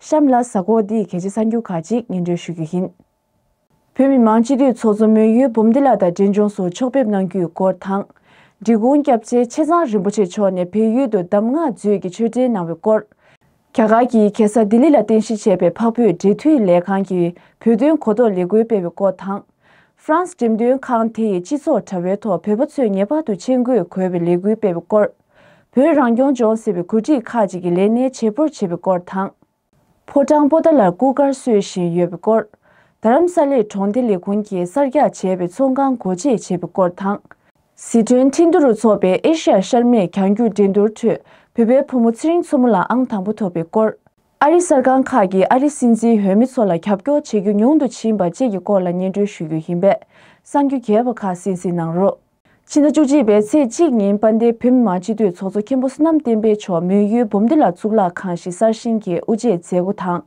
གཤམ་ལ་གཟའ་འཁོར་འདི་ཡི་གལ་ཆེ་ས་འགྱུར་ཁག་ཅིག་ངན་འགྲོས་ཞུ་རྒྱུ་ཡིན། བོད་མི་མང་སྤྱི་འཐུས་ཚོགས་གཙོ་མོན་ཡུལ་འབུམ་སྡེ་ལགས་དང་འབྲས་ལྗོངས་སུ་ཕྱོགས་ཕེབས་གནང་རྒྱུའི་སྐོར་དང། འབྲི་གུང་སྐྱབས་རྗེ་ཆེ་ཚང་རིན་པོ་ཆེ་མཆོག་ནས་བལ་ཡུལ་དུ་གདམས་ངག་མཛོད་ཀྱི་ཆོས་འབྲེལ་གནང་བའི་སྐོར། རྒྱ་གར་གྱི་གེ་སར་ལྡི་ལི་ལ་རྟེན་གཞི་བྱས་པའི་འཕགས་བོད་འབྲེལ་མཐུད་ལས་ཁང་གི་བོད་དོན་གོ་རྟོགས་ལས་འགུལ་སྤེལ་བའི་སྐོར་དང། France འགྲེམས་སྟོན་ཁང་དེ་ཡི་སྤྱི་ཚོགས་དྲ་བའི་ཐོག་བོད་པ་ཚོས་ངེས་པར་དུ་མཆན་འགོད་དགོས་པའི་ལས་འགུལ་སྤེལ་བའི་སྐོར། བོད་རང་སྐྱོང་ལྗོངས་སྲིད་པའི་གོ་སྒྲིག་ཁག་ཅིག་གིས་ལས་གནས་བྱེད་པོར་བྱེད་པའི་སྐོར་དང། ཕོ་བྲང་པོ་ཏཱ་ལར་སྐུ་དཀར་གསོལ་བཞིན་ཡོད་པའི་སྐོར། རྡ་རམ་ས་ལའི་གྲོང་སྡེ་ལས་ཁུངས་ཀྱིས་གསར་རྒྱག་བྱས་པའི་ཚོང་ཁང་སྒོ་འབྱེད་བྱས་པའི་སྐོར་དང། ཟི་ཁྲོན་ཁྲི་འདུ་རུ་འཚོགས་པའི་ཨེ་ཤི་ཡ་ཤར་མེད་གྱང་རྒྱུག་འགྲན་བསྡུར་ཁྲོད་བོད་པའི་བུ་མོ་ཚེ་རིང་མཚོ་མོ་ལ་ཨང་དང་པོ་ཐོབ་པའི་སྐོར། ཨ་རི་གསར་ཁང་ཁག་གིས་ཨ་རིའི་སྲིད་འཛིན་འོས་མི་ཚོ་ལ་ཁྱབ་སྐྱོར་བྱེད་རྒྱུ་ཉུང་དུ་ཕྱིན་པ་བཅས་ཀྱི་སྐོར་ལ་སྙན་སྒྲོན་ཞུ་རྒྱུ་ཡིན་པས་གསང་རྒྱུ་རྒྱས་པ་ཁག་སིན་སིན་གནང་རོགས། ཕྱི་ཟླ་བཅུ་གཅིག་པའི་ཚེས་གཅིག་ཉིན་དཔལ་ལྡན་བོད་མི་མང་སྤྱི་འཐུས་ཚོགས་གཙོ་མཁན་པོ་བསོད་ནམས་བསྟན་འཕེལ་མཆོག་མོན་ཡུལ་འབུམ་སྡེ་ལ་གཙུག་ལག་ཁང་ཞིག་གསར་བཞེངས་ཀྱི་དབུ་འབྱེད་མཛད་སྒོ་དང།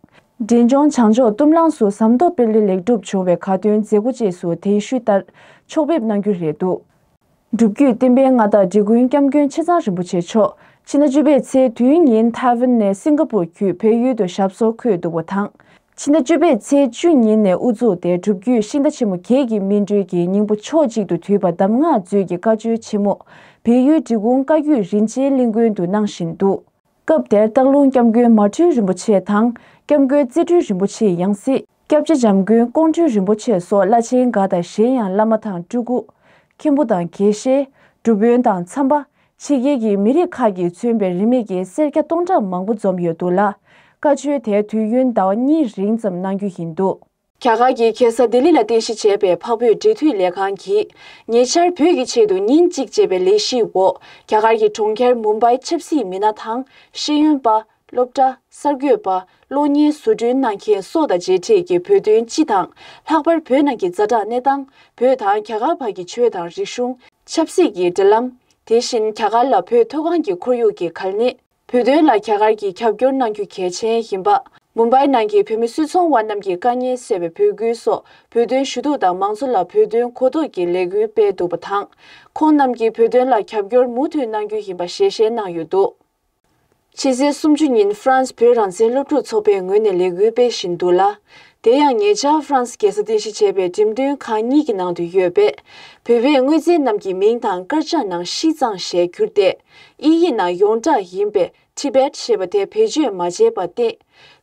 འབྲས་ལྗོངས་བྱང་ཕྱོགས་གཏུམ་རླངས་སུ་ཟམ་གདོང་དཔལ་ལྡན་ལེགས་གྲུབ་བྱུང་བའི་ཁ་འདོན་མཛད་སྒོ་བཅས་སུ་དེང་ཤུལ་ལྟར་ཕྱོགས་ཕེབས་གནང་རྒྱུ་རེད་འདུག་སྒྲུབ་བརྒྱུད་བསྟན་པའི་མངའ་བདག་འབྲི་ཀུན་སྐྱབས་མགོན་ཆེ་ཚང་རིན་པོ་ཆེ་མཆོག་ཕྱི་ཟླ་བཅུ་པའི་ཚེས་བདུན་ཉིན་ཐའེ་ཝན་ནས་སིང་ག་པུར་བརྒྱུད་བོད་ཡུལ་དུ་ཞབས་སོར་འཁོད་འདུག་པ་དང། ཕྱི་ཟླ་བཅུ་པའི་ཚེས་བཅུ་ཉིན་ནས་དབུ་བཙུགས་ཏེ་སྒྲུབ་བརྒྱུད་ཤིང་རྟ་ཆེན་མོ་བརྒྱད་ཀྱི་སྨིན་གྲོལ་གྱི་སྙིང་པོ་ཕྱོགས་གཅིག་ཏུ་དུད་པ་གདམས་ངག་མཛོད་ཀྱི་བཀའ་ཆོས་ཆེན་མོ། བལ་ཡུལ་འབྲི་གུང་བཀའ་བརྒྱུད་རིན་ཆེན་གླིང་དགོན་དུ་གནང་བཞིན་འདུག། སྐབས་དེར་སྟག་ལུང་སྐྱབས་མགོན་མ་སྤྲུལ་རིན་པོ་ཆེ་དང། སྐྱབས་མགོན་རྩེ་སྤྲུལ་རིན་པོ་ཆེའི་ཡང་སྲིད། སྐྱབས་རྗེ་འཇམ་མགོན་ཀོང་སྤྲུལ་རིན་པོ་ཆེ་སོགས་བླ་ཆེན་འགའ་དང་གཞན་ཡང་བླ་མ་དང་སྤྲུལ་སྐུ། མཁན་པོ་དང་དགེ་བཤེས། སྒྲུབ་དཔོན་དང་འཚམས་པ། ཕྱི་རྒྱལ་གྱི་མི་རིགས་ཁག་གིས་མཚོན་པའི་རིན་མེད་ཀྱི་སེར་སྐྱ་སྟོང་ཕྲག་མང་པོ་འཛོམས་ཡོད་འདུག་ལ། བཀའ་ཆོས་དེ་དུས་ཡུན་ཟླ་བ་གཉིས་རིང་ཙམ་གནང་རྒྱུ་ཡིན་འདུག། རྒྱ་གར་གྱི་གེ་སར་ལྡི་ལི་ལ་རྟེན་གཞི་བྱས་པའི་འཕགས་བོད་འབྲེལ་མཐུད་ལས་ཁང་གིས་ཉེ་ཆར་བོད་ཀྱི་ཆེད་དུ་ཉིན་གཅིག་ཅེས་པའི་ལས་གཞིའི་འོག་རྒྱ་གར་གྱི་གྲོང་ཁྱེར་མུམ་པའི་ཆབ་སྲིད་མི་སྣ་དང་ཤེས་ཡོན་པ། སློབ་གྲྭ། གསར་འགོད་པ། གློག་བརྙན་བཟོ་སྐྲུན་གནང་མཁན་སོགས་དང་མཇལ་འཕྲད་ཀྱིས་བོད་དོན་སྤྱི་དང། ལྷག་པར་བོད་ནང་གི་རྩ་གྲགས་གནས་སྟངས། བོད་དང་རྒྱ་གར་བར་གྱི་ཆོས་དང་རིག་གཞུང། ཆབ་སྲིད་ཀྱི་འབྲེལ་ལམ། དེ་བཞིན་རྒྱ་གར་ལ་བོད་མཐོ་སྒང་གི་ཁོར་ཡུག་གི་གལ་གནད། བོད་དོན་ལ་རྒྱ་གར་གྱིས་རྒྱབ་སྐྱོར་གནང་རྒྱུ་གལ་ཆེན་ཡིན་པ། མུམ་སྦའི་ནང་གི་བོད་མི་སུད་ཚོང་བ་རྣམས་ཀྱི་དཀའ་ཉེན་སེལ་བའི་འབོད་སྐུལ་སོགས་བོད་དོན་ཞུ་གཏུག་དང་མང་གཙོ་ལ་བོད་དོན་གོ་རྟོགས་ཀྱི་ལས་འགུལ་སྤེལ་འདུག་པ་དང། ཁོང་རྣམས་ཀྱིས་བོད་དོན་ལ་རྒྱབ་སྐྱོར་མུ་མཐུད་གནང་རྒྱུ་ཡིན་པ་ཞལ་བཞེས་གནང་ཡོད་འདུག། ཕྱི་ཚེས་སུམ་ཅུ་ཉིན་ཧྥ་རན་སི་བོད་རང་བཙན་སློབ་ཕྲུག་ཚོགས་པའི་ངོས་ནས་ལས་འགུལ་སྤེལ་བཞིན་འདུག་ལ། དེ་ཡང་ཉེ་ཆར་ཧྥ་རན་སི་རྒྱལ་ས་རྟེན་གཞི་བྱས་པའི་འགྲེམས་སྟོན་ཁང་གཉིས་ཀྱི་ནང་དུ་ཡོད་པའི་བོད་པའི་དངོས་རྫས་རྣམས་ཀྱི་མིང་དང་དཀར་ཆག་ནང་ཤིས་ཙང་ཞེས་བསྒྱུར་ཏེ་དབྱིན་ཡིག་ནང་ཡོངས་གྲགས་ཡིན་པའི Tibet ཞེས་པ་དེ་བེད་སྤྱོད་མ་བྱས་པར་བརྟེན།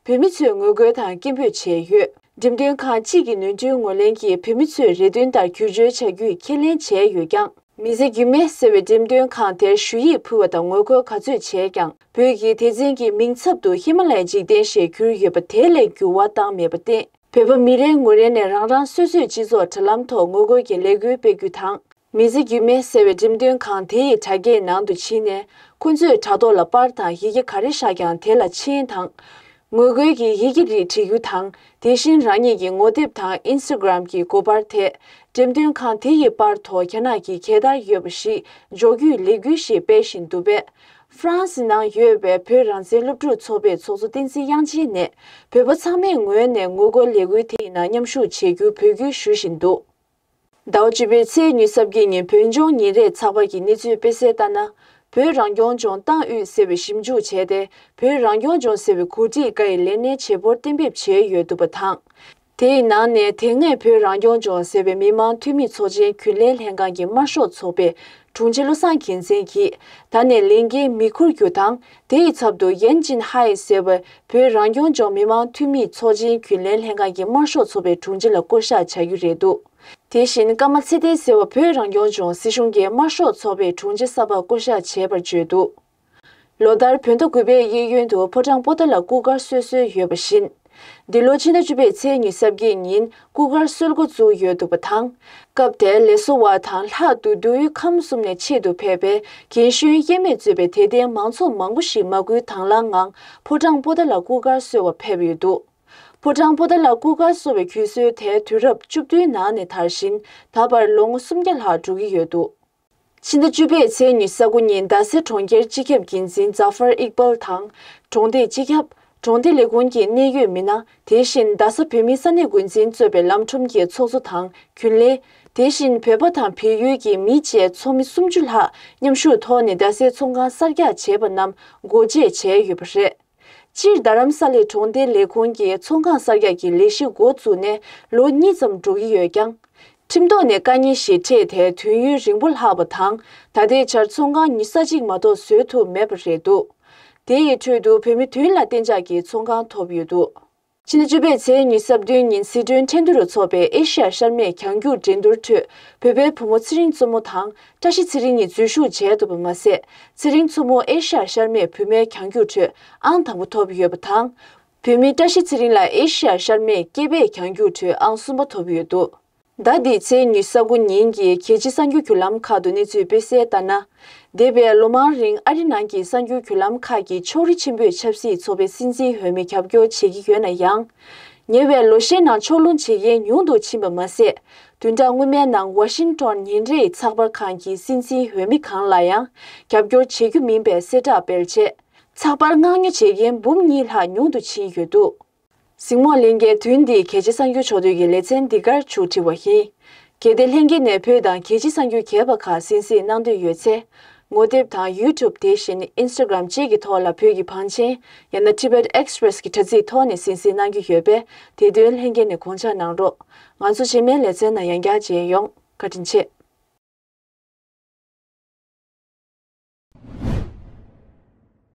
བོད་མི་ཚོས་ངོ་རྒོལ་དང་སྐད་འབོད་བྱས་ཡོད། འགྲེམས་སྟོན་ཁང་གཅིག་གི་ནོན་སྤྲུལ་ངོས་ལེན་གྱིས་བོད་མི་ཚོས་རེ་འདུན་ལྟར་བརྒྱུད་བཅོལ་བྱ་རྒྱུའི་ཁས་ལེན་བྱས་ཡོད་ཀྱང། མི་ཚེ་སྒྱུ་མའི་ཟེར་བའི་འགྲེམས་སྟོན་ཁང་དེར་ཞུ་ཡིག་ཕུལ་བ་དང་ངོ་རྒོལ་ག་ཚོད་བྱས་ཀྱང་བོད་ཀྱིས་དེ་འཛིན་གྱི་མིང་ཚབ་ཏུ་ཧི་མ་ལའི་འཇིག་རྟེན་ཞེས་བསྒྱུར་ཡོད་པ་དེ་ལས་འགྱུར་བ་བཏང་མེད་པར་བརྟེན། བོད་པ་མི་རེ་ངོ་རེ་ནས་རང་རང་སོ་སོས་སྤྱི་ཚོགས་དྲ་ལམ་ཐོག་ངོ་རྒོལ་གྱི་ལས་འགུལ་སྤེལ་རྒྱུ་དང། མི་ཚེ་སྒྱུ་མའི་ཟེར་བའི་འགྲེམས་སྟོན་ཁང་དེ་ཡི་དྲ་རྒྱའི་ནང་དུ་ཕྱིན་ནས་ཁོ་ཚོས་དྲ་ཐོག་ལ་པར་དང་ཡི་གེ་ག་རེ་བཞག་ཀྱང་དེ་ལ་མཆན་དང། ངོ་རྒོལ་གྱི་ཡི་གེ་རིགས་བྲི་རྒྱུ་དང་དེ་བཞིན་རང་ཉིད་ཀྱི་ངོ་དེབ་དང Instagram གྱི་གོ་བར་ཐད་འགྲེམས་སྟོན་ཁང་དེ་ཡི་པར་ཐོ་རྒྱ་ནག་གི་གད་དར་ཡོད་པ་ཞིག་འཇོག་རྒྱུའི་ལས་འགུལ་ཞིག་སྤེལ་བཞིན་འདུག་པས། ཧྥ་རན་སི་ནང་ཡོད་པའི་བོད་རང་བཙན་སློབ་ཕྲུག་ཚོགས་པའི་ཚོགས་གཙོ་བསྟན་འཛིན་དབྱངས་ཅན་ནས་བོད་པ་ཚང་མས་ངོས་ནས་ངོ་རྒོལ་ལས་འགུལ་དེ་ཡི་ནང་མཉམ་ཞུགས་བྱེད་རྒྱུའི་འབོད་སྐུལ་ཞུ་བཞིན་འདུག། ཟླ་བ་བཅུ་པའི་ཚེས་ཉི་སྲབ་གྱི་ཉིན་བོད་ལྗོངས་ཉིན་རེའི་ཚགས་པར་གྱི་གནས་ཚུལ་སྤེལ་གསལ་ལྟར་ན། བོད་རང་སྐྱོང་ལྗོངས་ཏང་ཨུད་ཟེར་བས་ཞིབ་འཇུག་བྱས་ཏེ་བོད་རང་སྐྱོང་ལྗོངས་ཟེར་བའི་གོ་སྒྲིག་འགའ་ཡི་ལས་སྣེ་བྱེད་པོར་གཏན་འབེབས་བྱས་ཡོད་འདུག་པ་དང། དེའི་ནང་ནས་དེ་སྔའི་བོད་རང་སྐྱོང་ལྗོངས་ཟེར་བའི་མི་དམངས་འཐུས་མི་ཚོགས་ཆེན་རྒྱུན་ལས་ལྷན་ཁང་གི་དམར་ཤོག་ཚོགས་པའི་དྲུང་ཆེ་བློ་བཟང་གྱེན་མཚན་གྱིས་ད་ནས་ལས་འགན་མི་འཁུར་རྒྱུ་དང་དེ་ཡི་ཚབ་ཏུ་ཡན་ཅིན་ཧའེ་ཟེར་བའི་བོད་རང་སྐྱོང་ལྗོངས་མི་དམངས་འཐུས་མིའི་ཚོགས་ཆེན་རྒྱུན་ལས་ལྷན་ཁང་གི་དམར་ཤོག་ཚོགས་པའི་དྲུང་ཆེ་ལ་བསྐོ་བཞག་བྱ་རྒྱུ་རེད་འདུག་དེ་བཞིན་ཀརྨ་ཚེ་བརྟན་ཟེར་བ་བོད་རང་སྐྱོང་ལྗོངས་སྲིད་གཞུང་གི་དམར་ཤོག་ཚོགས་པའི་དྲུང་ཆེ་གསར་པར་བསྐོ་བཞག་བྱས་པར་བརྗོད་འདུག་ལོ་ལྟར་བོད་ཟླ་དགུ་པའི་གཡས་གཡོན་དུ་ཕོ་བྲང་པོ་ཏཱ་ལ་སྐུ་སྒར་སོ་སོའི་ཡོད་པ་བཞིན། འདི་ལོ་ཕྱི་ཟླ་བཅུ་པའི་ཚེས་ཉིན་གསར་བརྗེའི་ཉིན་སྐུ་སྒར་གསོལ་འགོ་བཙུགས་ཡོད་འདུག་པ་དང། སྐབས་དེར་ལས་བཟོ་བ་དང་ལྷག་ཏུ་བདུད་དབུས་ཁམས་གསུམ་ནས་ཆེད་དུ་ཕེབས་པའི་གྱན་གཞོན་དབྱེར་མེད་གཙོས་པའི་དད་ལྡན་མང་ཚོགས་མང་པོ་ཞིག་མ་སྐུལ་དྭངས་བླངས་ངང་ཕོ་བྲང་པོ་ཏཱ་ལ་སྐུ་སྒར་གསོལ་བར་ཕེབས་ཡོད་འདུག་ཕོ་བྲང་པོ་ཏཱ་ལ་སྐུ་སྒར་གསོལ་བའི་གུས་སྲོལ་དེ་དུས་རབས་བཅུ་བདུན་ནང་ནས་དར་ཞིང་ད་བར་ལོ་ངོ་སུམ་བརྒྱ་ལྷག་འགྲོ་གི་ཡོད་འདུག། ཕྱི་ཟླ་བཅུ་པའི་ཚེས་ཉི་ས་དགུ་ཉིན་རྡ་སའི་གྲོང་ཁྱེར་སྤྱི་ཁྱབ་འགན་འཛིན་རྫ་ཧྥར་ཨིག་པལ་དང། གྲོང་སྡེའི་སྤྱི་ཁྱབ། གྲོང་སྡེ་ལས་ཁུངས་ཀྱི་གནད་ཡོད་མི་སྣ། དེ་བཞིན་རྡ་ས་བོད་མིའི་ས་གནས་འགོ་འཛིན་གཙོས་པའི་ལམ་ཁྲོམ་གྱི་ཚོགས་གཙོ་དང་རྒྱུན་ལས། དེ་བཞིན་བོད་པ་དང་བལ་ཡུལ་གྱི་མི་བཅས་ཚོགས་མི་སུམ་ཅུ་ལྷག་མཉམ་ཞུགས་ཐོག་ནས་རྡ་སའི་ཚོང་ཁང་གསར་རྒྱག་བྱས་པ་རྣམས་སྒོ་འབྱེད་བྱས་ཡོད་པ་རེད། སྤྱིར་རྡ་རམ་ས་ལའི་གྲོང་སྡེ་ལས་ཁུངས་ཀྱི་ཚོང་ཁང་གསར་རྒྱག་གི་ལས་གཞི་མགོ་བཙུགས་ནས་ལོ་གཉིས་ཙམ་འགྲོ་གི་ཡོད་ཀྱང། ཁྲིམས་ཐོག་ནས་བཀའ་རྙིང་ཞིག་འཕྲད་དེ་དུས་ཡུན་རིང་པོ་ལྷག་པ་དང་ད་ལྟའི་ཆར་ཚོང་ཁང་ཉིས་ས་གཅིག་མ་གཏོགས་བཟོས་ཐུབ་མེད་པ་རེད་འདུག་དེ་ཡི་ཁྲོད་དུ་བོད་མི་དོན་ལ་བརྟན་འཇགས་ཀྱི་ཚོང་ཁང་ཐོབ་ཡོད་འདུག། ཕྱི་ཟླ་བཅུ་པའི་ཚེས་ཉི་ཟབ་བདུན་ཉིན་སི་ཁྲོན་ཁྲེན་ཏུ་རུ་ཚོགས་པའི་ཨེ་ཤེ་ཡ་ཤར་མེད་གྱང་རྒྱུག་འགྲན་བསྡུར་ཁྲོད་བོད་པའི་བུ་མོ་ཚེ་རིང་གཙོ་མོ་དང་བཀྲ་ཤིས་ཚེ་རིང་གཉིས་འཛུལ་ཞུགས་བྱས་འདུག་པ་མ་ཟད་ཚེ་རིང་མཚོ་མོ་ཨེ་ཤེ་ཡ་ཤར་མེད་བུད་མེད་གྱང་རྒྱུག་ཁྲོད་ཨང་དང་པོ་ཐོབ་ཡོད་པ་དང། བུད་མེད་བཀྲ་ཤིས་ཚེ་རིང་ལ་ཨེ་ཤེ་ཡ་ཤར་མེད་སྐྱེས་པའི་གྱང་རྒྱུག་ཁྲོད་ཨང་གསུམ་པ་ཐོབ་ཡོད་འདུག། ཟླ་འདིའི་ཚེས་ཉི་ས་དགུ་ཉིན་གྱི་གལ་ཆེའི་གསར་འགྱུར་བརྒྱུད་ལམ་ཁག་ཏུ་གནས་ཚུལ་སྤེལ་གསལ་ལྟར་ན། འདས་པའི་ལོ་མང་རིང་ཨ་རི་ནང་གི་གསར་འགྱུར་བརྒྱུད་ལམ་ཁག་གིས་ཕྱོགས་རིས་ཆེན་པོས་ཆབ་སྲིད་ཚོགས་པའི་སྲིད་འཛིན་འོས་མི་རྒྱབ་སྐྱོར་བྱེད་ཀྱི་ཡོད་ན་ཡང། ཉེ་བའི་ལོ་ཤས་ནང་ཕྱོགས་ལྷུང་བྱེད་མཁན་ཉུང་དུ་ཕྱིན་པ་མ་ཟད། དུས་འདའ་སྔོན་མའི་ནང་ཝ་ཤིང་ཏོན་ཉིན་རེའི་ཚགས་པར་ཁང་གི་སྲིད་འཛིན་འོས་མི་གང་ལ་ཡང་རྒྱབ་སྐྱོར་བྱེད་རྒྱུ་མིན་པའི་གསལ་བསྒྲགས་སྤེལ་རྗེས། ཚགས་པར་མངགས་ཉོ་བྱེད་མཁན་འབུམ་གཉིས་ལྷག་ཉུང་དུ་ཕྱིན་ཡོད་འདུག། གཟིགས་མོ་གླིང་གའི་དུས་འདིའི་གལ་ཆེ་གསང་རྒྱུ་ཕྱོགས་བསྡུས་ཀྱི་ལེ་ཚན་འདི་གར་བྱུག་བྲིས་བ་ཡིན། གལ་ཏེ་ལྷན་རྒྱས་ནས་བོད་དང་གལ་ཆེ་གསང་རྒྱུ་གས་པ་ཁག་གསན་གཟིགས་གནང་འདོད་ཡོད་ཚེ། ངོ་དེབ་དང YouTube དེ་བཞིན Instagram བཅས་ཀྱི་ཐོག་ལ་བོད་ཀྱི་བང་ཆེན་ཡང་ན Tibet Express གྱི་དྲ་ཚིགས་ཐོག་ནས་གསན་གཟིགས་གནང་རྒྱུ་ཡོད་པས་དེ་དོན་ལྷན་རྒྱས་ནས་དགོངས་འཆར་གནང་རོགས། ང་ཚོ་རྗེས་མའི་ལེ་ཚན་ནང་ཡང་བསྐྱར་མཇལ་ཡོང། བཀའ་དྲིན་ཆེ།